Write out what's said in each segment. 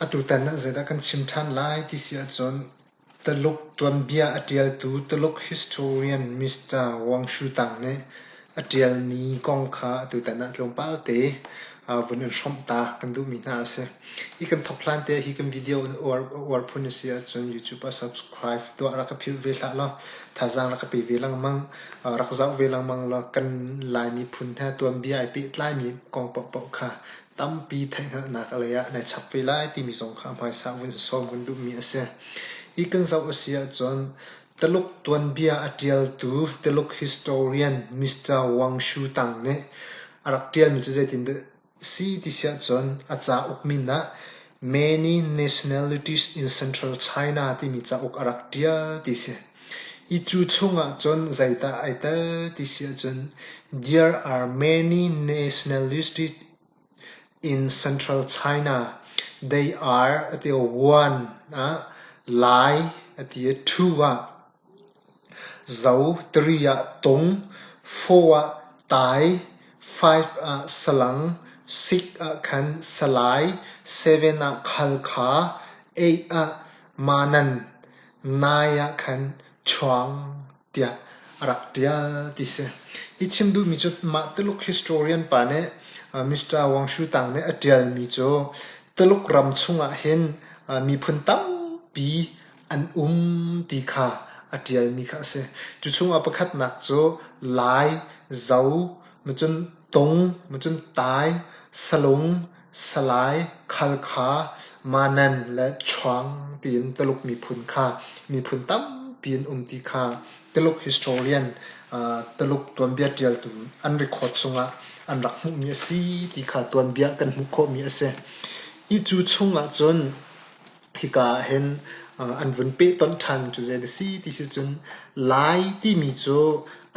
Atutan ah zeidah kan chim ṭhan lai ti si ahcun Tuluk tuanbia a ṭialtu Tuluk historian Mr. Wang Shutang nih a ṭialmi kong kha atutan ah tlawmpal te vun in hrawmh ta kan duhmi hna a si. Hi kan thawk hlan te ah hi kan video in uar phun a si ahcun YouTube ah subscribe tuah, rak ka philh ve hlah law thazaang rak ka pe ve lengmang. Rak zoh ve lengmang law kan Lai miphun he tuanbia ai pehtlaimi kong paohpaoh kha tampi theihhngalhnak lei ah nai chap ve lai timi zong kha hmaisa vun sawm kan duhmi a si. Hi kan zoh a si ahcun Taluk tuanbia a ṭialtu Taluk historian Mr. Wang Shu Tang nih a rak ṭialmi cu zeitindah Si ti siahcun a cauk min ah "Many Nationalities in Central China" timi cauk a rak ṭial ti si. Hi cu chungah cun zeidah ai tel ti siahcun "There are many nationalities in Central China. They are" a ti i "one" ah, "lai" a ti i "two" ah. Zo tiri ah tung, fur ah tai, five ah salang, six ah khan salai, seven ah khalkha, eight ah manan, nine ah khan chuang tiah a rak ṭial ti si. Hi chim duhmi cu mah Tuluk historian pa nih Mr. Wang Shu Tang nih a ṭialmi cu Tuluk ram chungah hin miphun tampi an um ti kha a ṭialmi kha a si. Cu chungah pakhatnak cu lai, zo, macun tung, macun tai, salung, salai, khalkha, manan le chuang tiin Tuluk miphun kha miphun tampi an um ti kha Tuluk historian Tuluk tuanbia ṭialtu an record chungah an rak hmuhmi a si ti kha tuanbia kan hmuh khawhmi a si. Hi cu chungah cun Hika ah hin an vun peh tonh ṭhan cu zeidah a si ti si cun Lai timi cu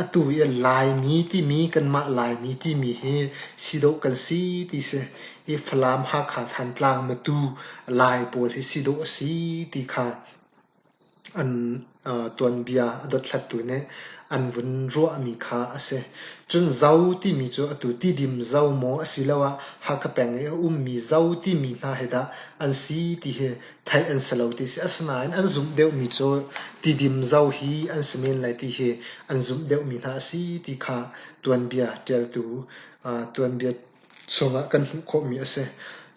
atu i a Laimi timi kanmah Laimi timi hi si dawh kan si ti si. I Falam Hakha Thantlang Matu Lai pawl hi si dawh a si ti kha an tuanbia a dothlattu nih an vun ruahmi kha a si. Cun Zo timi cu atu tidim Zo maw asiloah Hakha peng i a ummi Zo timi hna hi dah an si ti hi theih an si lo ti a si. Asinain an zumh deuhmi cu tidim Zo hi an si men lai ti hi an zumh deuhmi hna a si ti kha tuanbia ṭialtu tuanbia chungah kan hmuh khawhmi a si.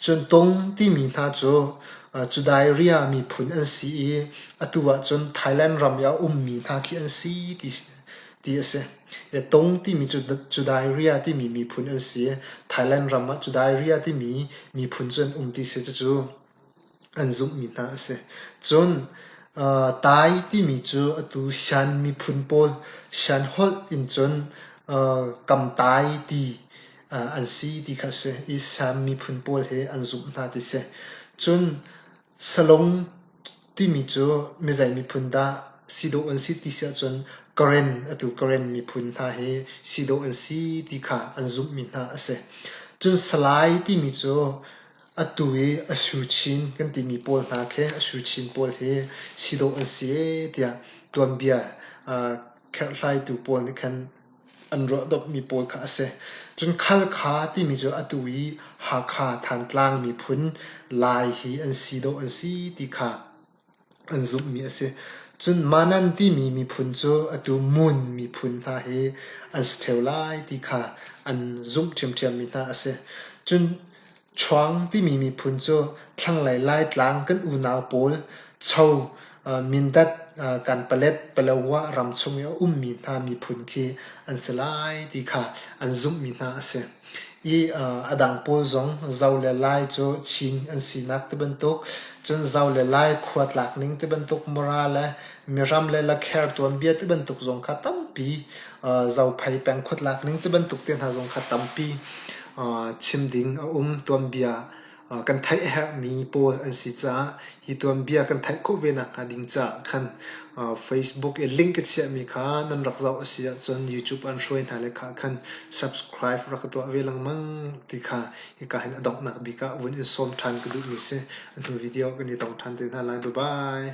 Cun Tong timi hna cu Judaea miphun an si i atu ahcun Thailand ram i a ummi hna khi an si ti a si. Tong timi cu Judaea timi miphun an si i Thailand ram ah Judaea timi miphun cu an um ti a si. Cucu an zumhmi hna a si. Cun Tai timi cu atu Shan miphun pawl Shan holh in cun Kamtai ti an si ti kha a si i Shan miphun pawl he an zumh hna ti a si. Cun Salung timi cu mizei miphun dah si dawh an si ti si ahcun Karen atu Karen miphun hna hi si dawh an si ti kha an zumhmi hna a si. Cun Salai timi cu Atu i a suchin kan timi pawl hna khi a suchin pawl hi si dawh an si ee tiah tuanbia aa kherhlaitu pawl nih khan an ruah dawpmi pawl kha a si. Cun Khalkha timi cu atu i Hakha, Thantlang miphun Lai hi an si dawh an si ti kha an zumhmi a si. Cun Manan timi miphun cu atu Mun miphun hna hi an si ṭheo lai ti kha an zumh ṭhiamṭhiammi hna a si. Cun Chuang timi miphun cu thlanglei Laitlang kan unau pawl Cho, Mindat, Kanpalet, Palawa ram chung i a ummi hna miphun khi an si lai ti kha an zumhmi hna a si. i a dang pawl zong zo le lai cu Chin an sinak tibantuk cun zo le lai khua tlak ning tibantuk mura le miram le lakher tuanbia tibantuk zong kha tampi zophei peng khuatlak ning tibantuk te hna zong kha tampi chim ding a um tuanbia Kan theih a herhmi pawl an si caah hi tuanbia kan theih khawh ve nakhnga ding caah khan Facebook i link a chiahmi kha nan rak zoh a si ahcun YouTube ah an hruai hna leka ah khan subscribe rak ka tuah ve lengmang ti kha hika hin a donghnak bik ah vun in sawm ṭhan ka duhmi a si. A hnu video kan i tong ṭhan te hna lai. Bye-bye.